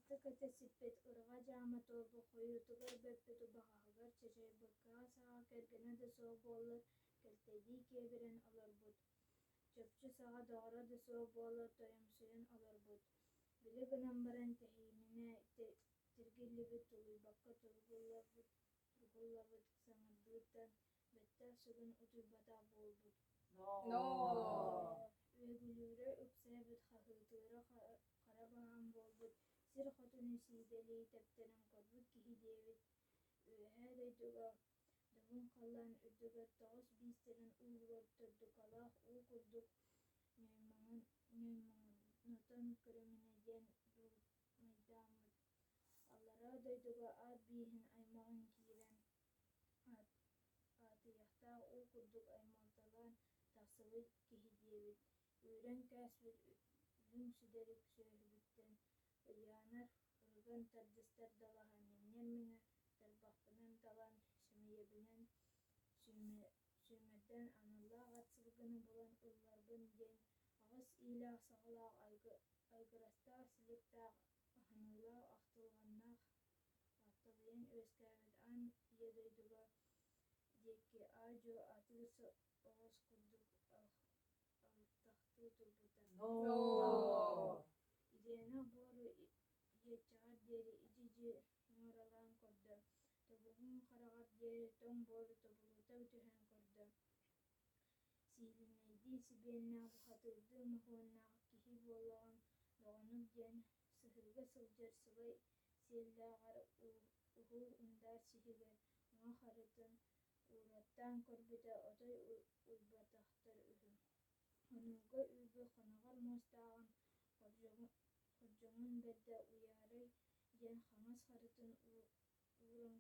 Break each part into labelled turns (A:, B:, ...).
A: ыта көтө сиппит ырыҕа дьаама торбу хойуутугар бөппүт убаҕаһыгар чачайбыккаҕа саҕа кэргэнэ да суох буоллар кэлтэйдии киэбирэн олорбут чопчу саҕа доҕоро да суох буоллар тойомсуйан олорбут били гынан баран тэһиининэ тиргиллибит тулуйбакка тургуллабыт саҥардыыттан бэттэх сүгүн утуйбатах буолбут. Үөгүлүүрэ үксээбит хаһыытыыра хара баһаам буолбут сир хотуну сиидэлии тэптэрэн көрбүт киһи диэбит. Үөһээ дойдуга дабын халлаан үрдүгэр тоҕус биис тэлэн уулугар төрдукалаах уу курдук ньоймоҥнотон көрүҥүнэ диэн дуулмайдааммыт. Аллараа дойдуга аат бииһин аймаҕын киирэн аатыйахтаах уу курдук аймалталаан тахсыбыт киһи диэбит үөрэн кээспит үнүм сүдэрик сүөһүбүттэн ыльаанар ырыган тардыстар далаһан миҥнэр миҥэ тарбахпынан талан сэмэйэбинэн сүүмэрдээн аналлаах ат сылгыны булан ылларбын диэн аҕыс иилээх саҕалаах айгырастаах силиктаах аһыныылаах ахтылҕаннаах Аттабыйан үөскээбит аан ийэ дойдуга диэки аа-дьуо атыы оҕус курдук алыптахтыы турбута Ильяна буору иэччэҕэр диэри идьидьи нуоралаан көрдө тобугун хараҕар диэри тоҥ буору тобулута түһэн көрдө Сиидинэйдии сибиэннээх бухатыырдыы мохуоннаах киһи буоллаҕыҥ доҕонум диэн сыһыыга сылдьар сылай сиэллээҕэр уһу ындаар сиһигэр уҥа харытын уураттаан көрбүтэ отой уйбатахтар үһү хонууга үөрбүт хоноҕор муостааҕын хордьоҥун бэрдэ уйаарай диэн хаҥас харытын ууран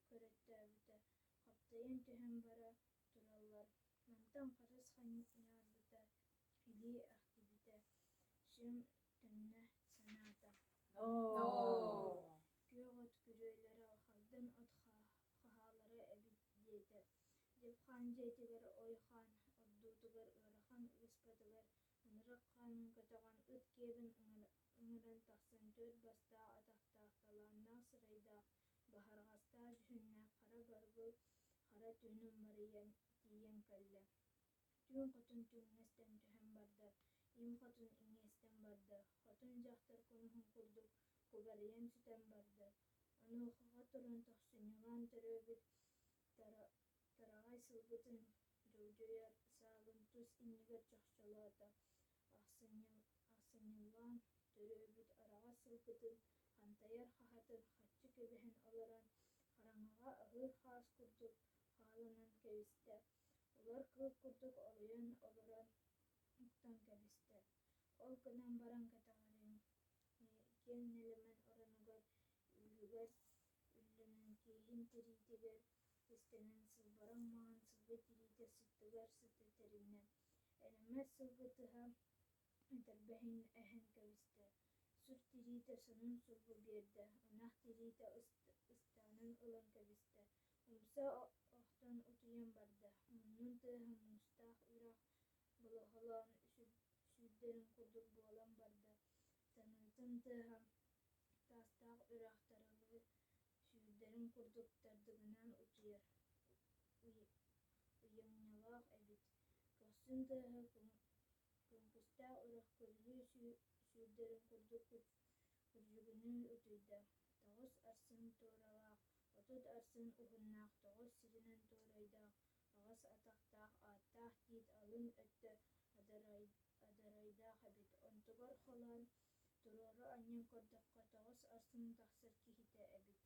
A: көрөттөөбүтэ хаптайан түһэн бара тураллар мантан харыс ханьыарбыта илии ахтыбыта сүм төннө санаата күөх от күрүөлэрэ хагдан от хаһаалара эбит диэтэ дьылхаан дьиэтигэр ойхаан ордуутугар ыарахан ыыспатылар Мырык хаанын көтөҕөн ыт киэбин ыҥыран тахсан төрүт бастаах атахтаах талааннаах сырайдаах баһарҕастаах дьүһүннээх хара баргыл хара түһүнүн марыйан тиийэн кэллэ түүн хотун түҥнэстэн түһэн барда им хотун иҥиэстэн барда хотун дьахтар кумуһун курдук кубарыйан сүтэн барда онуохаҕа туран тохсунньугаан төрөөбүт Кыраҕай сылгытын дьулдьуйар саалын тус иннигэр чохчолоото, ахсынньылаан төрөөбүт араҕас сылгытын хантайар хаһатын хаччы кэбиһэн олорон, хараҥаҕа аһыыр хаас курдук хаалынан кэбистэ. Олор кыыл курдук оройон олорон уктан кэбистэ. Ол гынан баран кэтэҕириҥ киэҥ нэлэмэн оронугар, үүһүгэр үллэнэн тииһин тириитигэр Истинэн сылбаран маҥан сылгы тириитэ сыттыгар сыты тэриннэ. Элэммэс сылгы тыһа этэрбэһин эһэн кэбистэ. Сүр тириитэ сонун сулбу биэрдэ. Ынах тириитэ ыстаанын ылан кэбистэ. Умса охтон утуйан барда. Муннун тыаһа муустаах үрэх болоһолоон сүүрдэрин курдук буолан барда. Таныытын тыаһа таастаах үрэх тарылыы Сүүрдэрин курдук тардыгынаан утуйар ыйамньылаах эбит. Көхсүн тыаһа кымпустээх үрэх көрүлүү сүүрдэрин курдук кырдьыгыныы утуйда. Тоҕус арсын туоралаах, отут арсын уһуннаах, тоҕус сиринэн туорайдаах аҕыс атахтаах ааттаах тиит алын өттө адарайдаах эбит. Онтубар холоон Туруору анньан көрдөххө, тоҕус астын тахсар киһитэ эбит.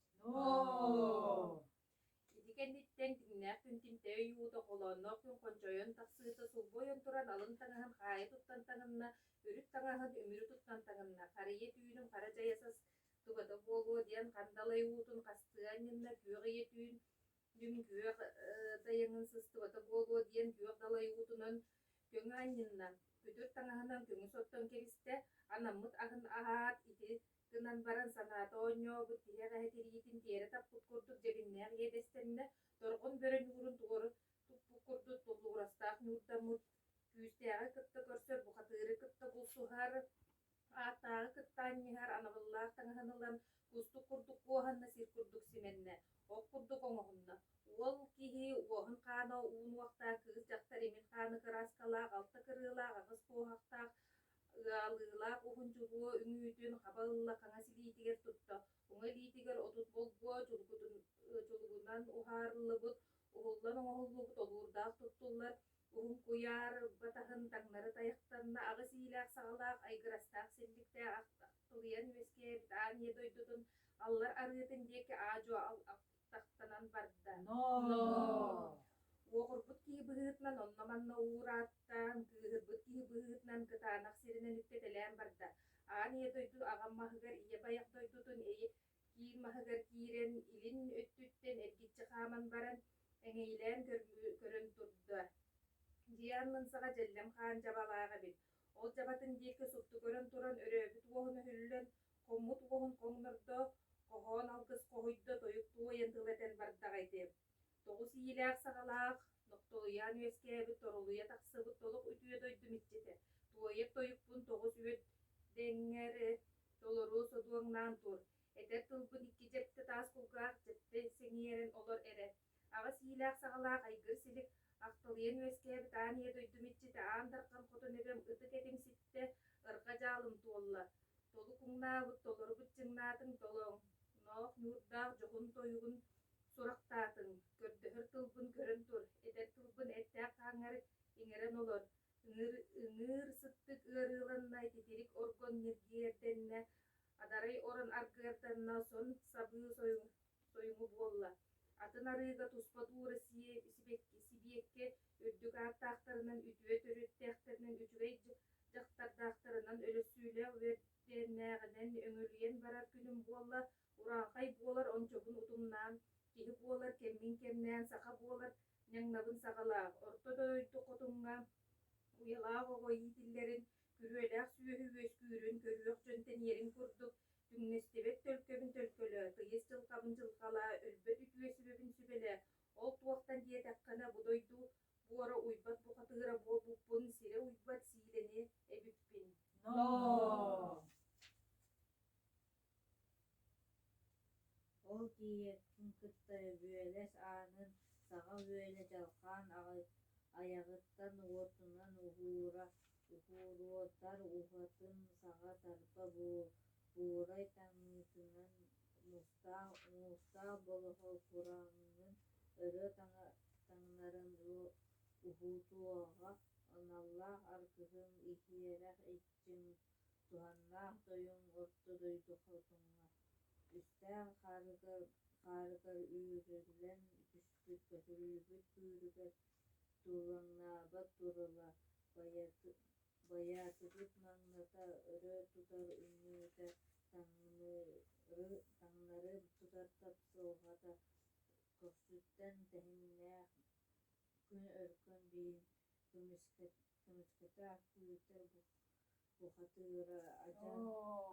A: Ити кэнниттэн дьиҥнээх Күнтимтэй өй уута холоонноох күн хончойон тахсыыта сулбу ойон туран алын таҥаһын хаайа туттан таҥынна, үрүт таҥаһын үмүрү туттан таҥынна, харыйа түүнүн хара дьайа сас тугата буолуо диэн хандалай уутун хастыы анньынна, күөх ийэ түүн Мин күөх тайаҥын сыстыбата буолуо диэн күөх далай уутунан көҥө анньынна, күтүр таҥаһынан көҥүс оттон кэбистэ, анаммыт аһын аһаат, ити гынан баран санаата оонньообут киһи эҕэһэ тириитин тиэрэ таппыт курдук дьэбиннээх иэдэстэннэ, торҕун бөрөнү урун туору туппут курдук туллугурастаах ньуурдаммыт, күүстээҕи кытта көрсөр бухатыыры кытта булсуһар, Ааттааҕы кытта анньыһар анабыллаах таҥаһын ылан, кустук курдук куоһанна, сир курдук симэннэ, ок курдук оҥоһунна. Уол киһи уоһун-хаана уунуохтаах, кыыс-дьахтар имин-хааны кырааскалаах, алта кырыылаах, аҕыс куоһахтаах, ыалыылаах уһун дьулуо үҥүүтүн хаба ылла, хаҥас илиитигэр тутта, уҥа илиитигэр отут болгуо чулгутун, чулугунан уһаарыллыбыт, уһуллан оҥоһуллубут олуурдаах туттуллар, Уһукуйаар батаһын таҥнары тайахтанна, аҕыс иилээх-саҕалаах, айгырастаах синньиктээх тулуйан үөскээбит аанньа дойдутун аллар арыытын диэки аа-дьуо алтахтанан барда. Ноо! Уоҕурбут киһи быһыытынан онно-манна уурааттаан, кыыһырбыт киһи быһыытынан кытаанах сиринэн үккэтэлээн барда. Аан ийэ дойду аҕам маһыгар ийэ байах дойдутун Киин маһыгар киирэн, илин өттүттэн эргиччи хааман баран, эҥэйилээн көрөн турда. Диан мунсаҕа дьэллэм хаан дьабалаах эбит. Ол дьабатын диэки супту көрөн туран, өрөөбүт уоһун өһүллэн, хоммут уоһун хоҥнордо, хоһоон алгыс хоһуйда, тойук туойан тыл этэн бардаҕа ити. Тоҕус иилээх-саҕалаах, нохтолуйаан үөскээбит, торолуйа тахсыбыт, толук үтүө дойдум иччитэ, туойар тойукпун тоҕус үөт дэҥҥэр Толору содуоҥнаан тур, этэр тылбын икки дьэппитэ таас кулгаах дьэппи сэҥийэрин олор эрэ. Аҕыс иилээх-саҕалаах айгыр-силик ахтылыйан үөскээбит аан ийэ дойдум иччитэ Аан Дархан хотун эбэм ытык этим ситтэ, ырҕа дьаалым туолла. Толук уҥнаабыт, толорубут дьыҥнаатыҥ толоҥ, ноох ньуурдаах дьоҕун-тойугун сурахтаатыҥ. Көрдөһөр тылбын көрөн тур, этэр тылбын эттээх-хааҥҥар иҥэрэн олор, Ыҥыыр сыттык ыарыыланна, титирик оргон ньиргийэрдэннэ, адарай орон аргыарданна, сон сабыы сойуҥу буолла. Атын арыыга туспат уура сибиэккэ үрдүк ааттаахтарынан, үтүө төрүттээхтэринэн, үчүгэй дьахтардаахтарынан, өлөссүүлээх үөрдээннээҕинэн өҥүрүйэн барар күнүм буолла. Ураанхай буолар ончобун утумнаан, киһи буолар кэммин кэмнээн, саха буолар ньаҥнабын саҕалаах орто дойду хотуҥҥа уйалаах оҕо иитиллэрин, күрүөлээх сүөһү үөскүүрүн көрүөх дьон тэниэрин курдук, түҥнэстибэт төлкөбүн төлкөлөө, тыйыс дьылҕабын дьылҕалаа, өлбөт үтүө сүбэбин сүбэлээ, ол туохтан диэтэххинэ бу дойду буора уйбат бухатыыра буолбуппун, сирэ уйбат сиилэни эбиппин. Но. Ол тиийэртин кытта Өбүөлэс аанын саҕа үөлэ дьалхаан айаҕыттан уотунан уһуурутар уһатын саҕа тарба буурай таҥыытынан мустаах болоһо кураанын өрө таҥнарын уһуутуоҕа аналлаах аргыһым иһиэрэх Дьиҥ туһаннаах тойуҥҥут дойду хотуҥҥа үстээх хаарыгар үүрүллэн түспүт көтүрүллүбүт бүүрүгэр туулаҥнаабыт турала байаатыгыт маҥната өрө тутар үннүүтэ таҥнары тутар тапсылҕата көхсүттэн тэһиннээх күн өркөн биин көмүскэттэ Тымыспыта үүтэ бухатыыра адьан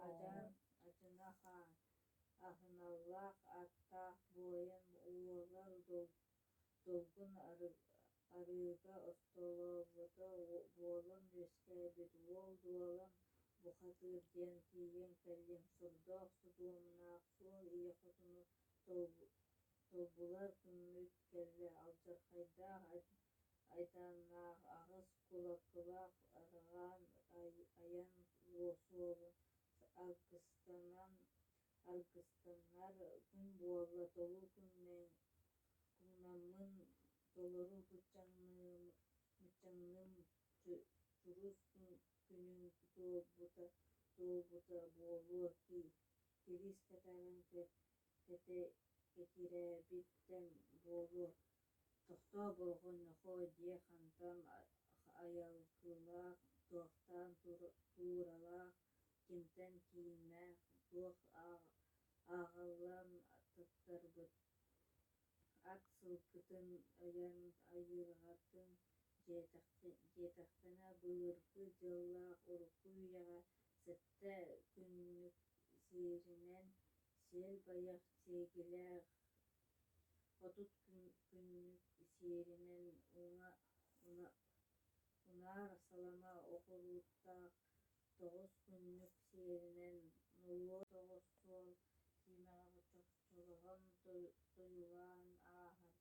A: адьан адьынахан аһыналлаах аттаах буойун уолар долгун арыыга остолообута буолан үөскээбит уол дуолан бухатыыр диэн тиийэн кэллим сурдоох судуомнаах суол ийэ хотуну толбулар күммүт кэллэ алдьархайдаах айдааннаах аҕыс кулакылаах ырҕаан айан суолу алгыстанан аргыстанар күн буолла толуу күҥнаммын толору мыччаҥныым чурус күнүҥ туолбута буолуо кириис кэтээбин кэтэй кэтиирээбиттэн буолуо тохтоо болҕомнохо дьиэ хантан айылгылаах туохтаан тууралаах кимтэн кииннээх туох ааҕыллан туттарбыт ат сылгытын ойон айылҕатын дьиэтэхтэнэ былыргы дьыллаах урукку үйэҕэ Дьэ, күннүк сиэринэн сиэл-байах сиэкилээх хотут күннүк сиэринэн уҥа салама окулууттаах тоҕус күннүк сиэринэн нолуок тоҕус суол тиэмэҕэ чочолоһон тойулаан ааһар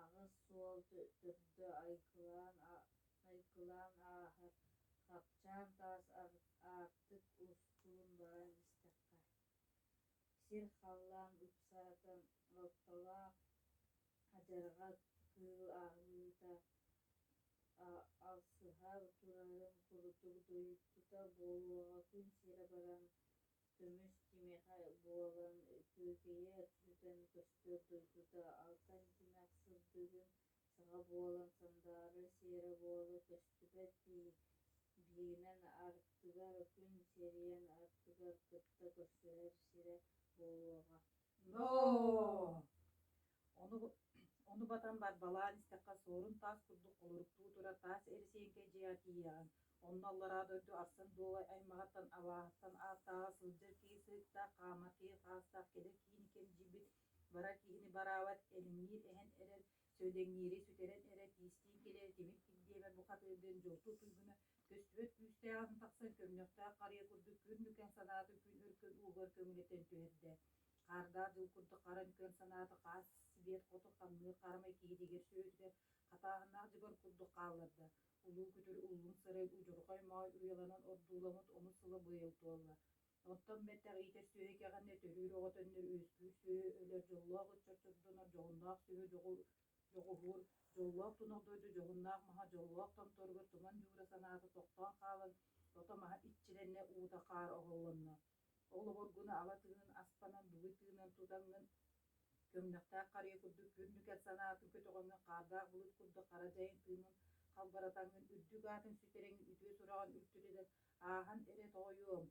A: аҕыс суол төрдө айгылаан ааһар, хапчаан таас аартык устуун баран истэххэ, сир халлаан ыпсаатан ортолоох адьарҕа кыыл аһыыта алсыһар турарын курдук доруйдута буолуоҕа күн сирэ баран Көмүс кимиэхэ буолан Кыыкыйа өттүтэн көстөр дойдута алта ардынаах сырдыгын саҕа буолан сандаары сиэрэ буола көстүбэт дии, биинэн артыгар күн сирийэн аттыгар кытта көрсүһэр сирэ буолуоҕа. Ноо! Ону, ону батан барбалаан истэххэ суорун таас курдук олоруктуу турар таас эрисиэҥкэй дьиэ тиийэҕин. Онно аллараа дойду арсын дуолай аймаҕыттан абааһыттан ааттааҕа сылдьар киһи сыыктаах хаама киһи хаастаах кэлэр киһини кэмдьийбит бара киһини бараабат элиҥниир эһэн эрэр Сөөдөҥньүөри сүтэрэн эрэ тиистиин кэлээр тимир-тик диэбэр бухатыыргын дьолту туйгуна көстүбэт күүстээх атын тахсан көмнөхтөөх харыйа курдук күн нүкэн санаатын күн өркөн уугар көҥүлэтэн түһэрдэ. Хаардаах дьыл курдук хара нүкэн санаата хаас сибиэт хоту хамныыр харамай киһитигэр сүрөтүгэр хатааһыннаах дьыбар курдук хаалларда. Улуу күтүр уллум сырай удьурҕай маай уйаланан ордууламмыт омус сыла быйыл туолла. Оттон мэтэх иитэр сүөһү итэҕэни төһүүр оҕотоннор үөскүүр сүөһү өлөр дьоллоох ыччат чордонор дьоһуннаах сүөһү дьоҕуһуур дьоллоох тунах дойду дьоһуннаах маһа дьоллоох томторугар туман дьуура санаата тохтоон хаалан ото маһа иччирэннэ уута хаар оһоллонно олоборгуну ала тыынын аспанан бугуй тыынан тутаҥҥын көмнөхтээх харыйа курдук күрнүкэр санаатын көтөҕөҥҥүн хаардаах булут курдук хара дьайын тыынын халбаратаҥҥын үрдүк аатын ситэрэҥҥин үтүө сураҕын үртүлүнэн Ааһан эрэ тоойуом,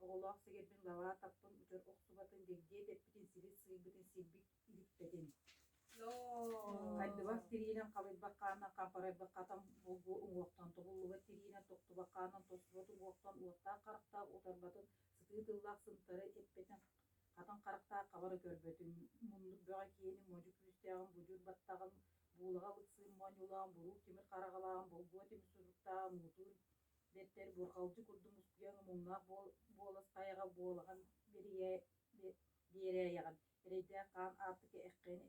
A: оҕолоох сэгэрбин лабаа таптым утар охсубатын дэгдиэ дэппитин сири сыыйбытын сирбит иһиппэтин. Хайдыбах тириинэн халыйбаккаанан хапарайбаккатан булгу уҥуохтан тобуллубат тириинэн токтубаккаанан тостубат уҥуохтан уоттаах харахтаах утарбатын сытыы тыллаах сымтары эппэтин хатан харахтаах хабары көрбөтүн муннук бөҕө киэни модьу күүстээҕин будьур баттаҕын буулаҕа лыксыын моонньулаан буруу тимир хараҕалааҕын болгуо тимир суруктааҕын уутуур бэртэр бурҕалдьы курдук мускуйан умуҥнаах буолас тайаҕа буолаҕын биэрээйэҕин эрэйдээх хаан аартыка эккээн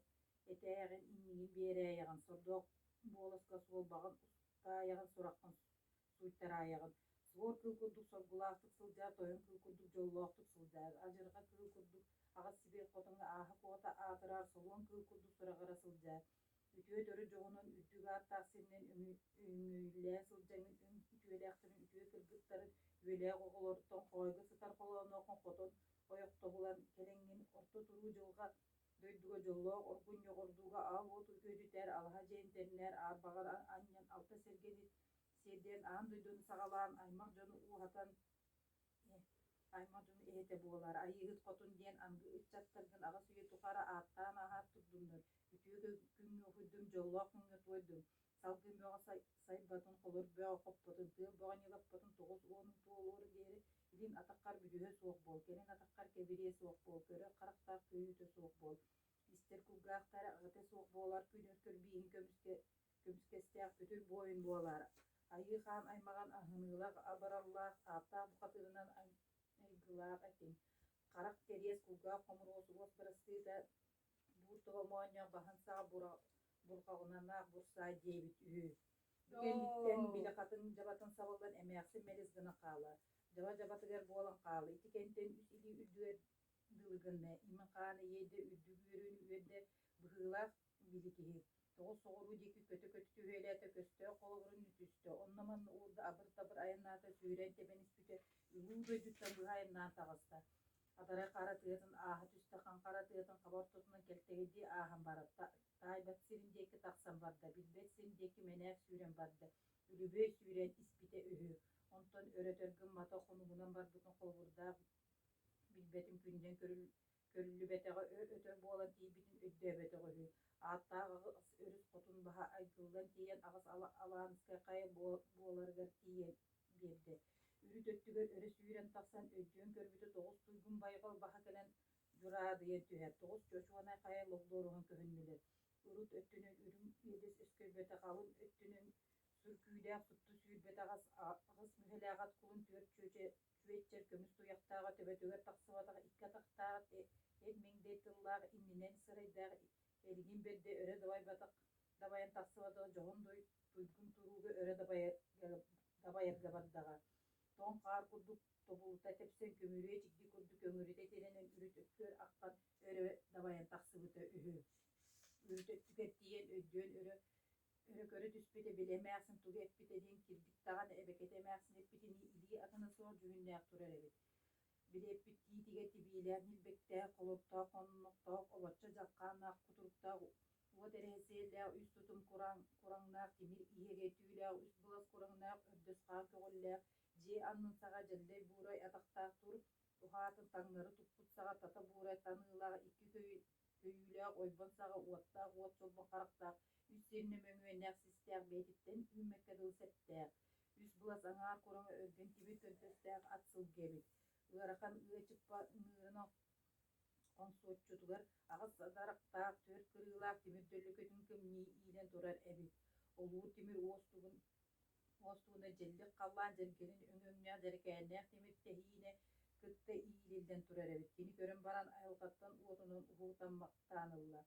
A: этээҕин иннигин биэрээйэҕин сордоох буоласка суолбаҕын устаайаҕын сураххын сууйтараайаҕын суор кыыл курдук соргулаахтык сылдьар тойон кыыл курдук дьоллоохтук сылдьар адьырҕа кыыл курдук аҕыс сибиир хотоҥҥо ааһа куота аатырар солуон кыыл курдук сураҕыра сылдьар үтүө төрүт дьоҕунун үрдүк ааттаах сиринэн үҥүүлээ сылдьаҥҥын үҥ үтүөлээхтэрин үтүө кыргыттарын үөлээх оҕолоруттан хоойго сытар холоонооххун хотон ойохтобулан кэлэҥҥин орто туруу дьылҕа дойдуга дьоллоох оргун ньоҕордууга аал уоту күөдьүтэр алаһа дьээнтэннэр аар баҕар анньан алта сэргэни сиэрдэрин аан дойдуну саҕалаан аймах дьону ууһатан аймадын иһитэ буолар Айыыһыт хотун диэн аныгы ыччаттаргын аҕыс үйэ тухары ааттаан ааһар турдуннар, үтүө күҥҥэ уһуйдун, дьоллоох күҥҥэ туойдун, салгыы бөҕө сайбатын, холор бөҕө хоппотун, тыал бөҕө ньылаппатын тоҕус уонун туолуору диэри илин атаххар бүдүһэ суох буол, кэлин атаххар кэбириэ суох буол, көрө харахтаах көйүүтэ суох буол, истэр кулгаахтара аҕыта суох буолар, күнүр көрбииһин көмүскэ Көмүскэстээх бүтүл буойун буолар. Айыы Хаан аймаҕын аһыныылах, абыраллаах, таптаах бухатыырынан айгылаах этиҥ. Харах кэриэс, кулгаах хомуруос, уос бырастыыта, буур тоҕо моонньох, баһын саа бурҕаҕынанаах бурсаай диэбит үһү. Бу кэнниттэн били хатын дьабатын сабыллан эмээхсин мэлис гына хаалар. Дьаба дьабатыгар буолан хаалар. Ити кэнтэн үс илии үрдүгэр дылы гынна. Имин хаана иэйдэ үрдүк үөрүүнү үөрдэ. Быһыылаах били киһи. тоҕус соҕуруу диэки көтө-көтө түһүөлээтэ, көстөөх холобурун түстэ, онно-манна уурда, абыр-табыр айаннаата, сүүрээн тэбэн испитэ, улуу дойдуттан быһа айаннаан таҕыста. Адарай хара тыатын ааһа түстэ, хаҥ хара тыатын хаба ортотунан кэлтэйдии ааһан баран, таайбат сирин диэки тахсан барда, билбэт сирин диэки мэнээк сүүрэн барда, үлүһүөй сүүрээн испитэ үһү. Онтон өр-өтөр гыммата, хонугунан барбытын холобурдаах, билбэтин күнүнэн көрүл Көрүллүбэтэҕэ ө-өтөр буолан тиийбитин өйдөөбөтөх үһү. Ааттаах аҕыс өрүс хотун баһа айгыллан тиийэн аҕыс Алаанскай хайа буоларыгар тиийэн биэрдэ. Үүт өттүгэр өрө сүүрэн тахсан өйдөөн көрбүтэ тоҕус туйгун байҕал баһа кэлэн дьураадыйан түһэр, тоҕус чочуонай хайа логлооруһан көһүннүлэр. Урут өттүнэн үрүҥ иэдэс өскөйбөтөх алын өттүнэн сүркүүдээх сыттыы сүүрбэт аҕыс аҕыс мүһэлээҕэт кулун түөрт чүөчэ Светтер көмүс туйахтааҕа төбөтүгэр тахсыбатах икки атахтаах эр-миҥдэй тыллаах иннинэн сырайдаах эргин бэрдэ өрө дабайбатах дабайан тахсыбата дьоһун дуй туйгун турууга өрө дабайарга бардаҕа тоҥ хаар курдук тобулута тэпсэн көмүрүө чигди курдук өҥүрүтэ тирэнэн үрүт өттүгэр аххан өрө дабайан тахсыбыта үһү үрүт өттүгэр тиийэн өйдөөн өрө Күнү көрө түспүт эбит, эмээхсин тугу эппитэ диэн кирбик даҕаны эбэкэтэ эмээхсин эппитинии илии атына суох дьүһүннээх турар эбит. Били эппиттиитигэр тибиилээх ньилбэктээх, холоттоох хоннуктаах, олоччо дьаххааннаах кутуруктаах уот эрэһэсиэллээх үс тутум кураҥ кураҥнаах тимир иһэгэй түүлээх үс былас кураҥнаах өрдөс хаар көҕүллээх дьиэ аннын саҕа дьэллэй буурай атахтаах тур уһаатын таҥнары туппут саҕа тата буурай таныылаах икки көйү Өйүүлээх ойбон саҕа уоттаах уот чолбох харахтаах, үс сиэннэ мөҥүөннээх-систээх бэйэтиттэн үүммэккэ дылы сэптээх, үс былас аҥаар кураҥа өргөн тибир төлбөстөөх ат сылгы эбит. Ыарахан ыачыкпа ыҥыырын хоҥсуоччутугар аҕыс дарахтаах, түөрт кырыылаах тимир төлөкөтүн кэмнии иилэн турар эбит. Олуур тимир уостугун Уос ууна дьэллик халлаан дьэргэнин өҥөҥнөөх дьэрэкээннээх тимир тэһиинэ кытта иилиллэн турар эбит. Кини көрөн баран айылҕаттан уотунан уһуутаммахтаан ылла.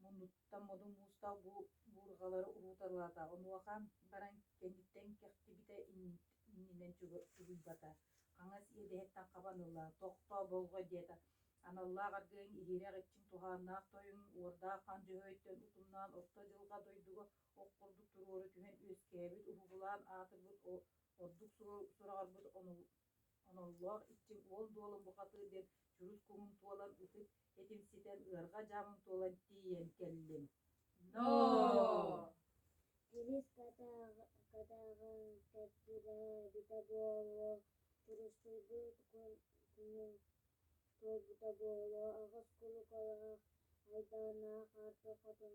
A: Муннуттан модун муустаах бу буурҕалары уһууталаата. Онуохан баран кэнниттэн кэхтибитэ иннинэн чугуйбата. Хаҥас иэдэһиттэн хабан ылла. «Тохтоо, болго!» диэтэ. Аналлаах аргыайыҥ иһирэх иччиҥ туһааннаах тойуҥ уордаах хан дьөһөйтөн утумнаан орто дьылҕа дойдуга Ох курдук туруора түһэн үөскээбит, уһугулаан аатырбыт ордук сураҕырбыт оноллоох иччим уон дуолун бухатыыр диэн чурус куҥун туолан ытык этим ситэн ыарҕа дьаамым туолан тиийэн кэллим. Но! Илис катааҕын тэппитэ буоллар туруссуйбут күнүн туойбута буолуо аҕыс кулукалаах айдааннаах арты хотун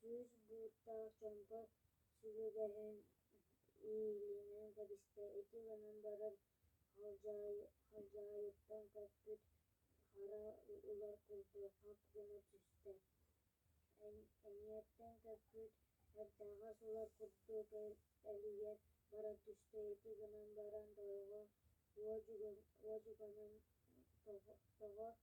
A: Кыыс бууттаах дьоҥҥо сүбэлэһэн иилинэн кэбистэ, ити гынан баран халдьаайыттан көппүт хара улар култу хап гына түстэ. Эҥиэттэн көппүт эрдэҕэс улар курдук элийэн баран түстэ, ити гынан баран дойҕо уодьуганан тоҕо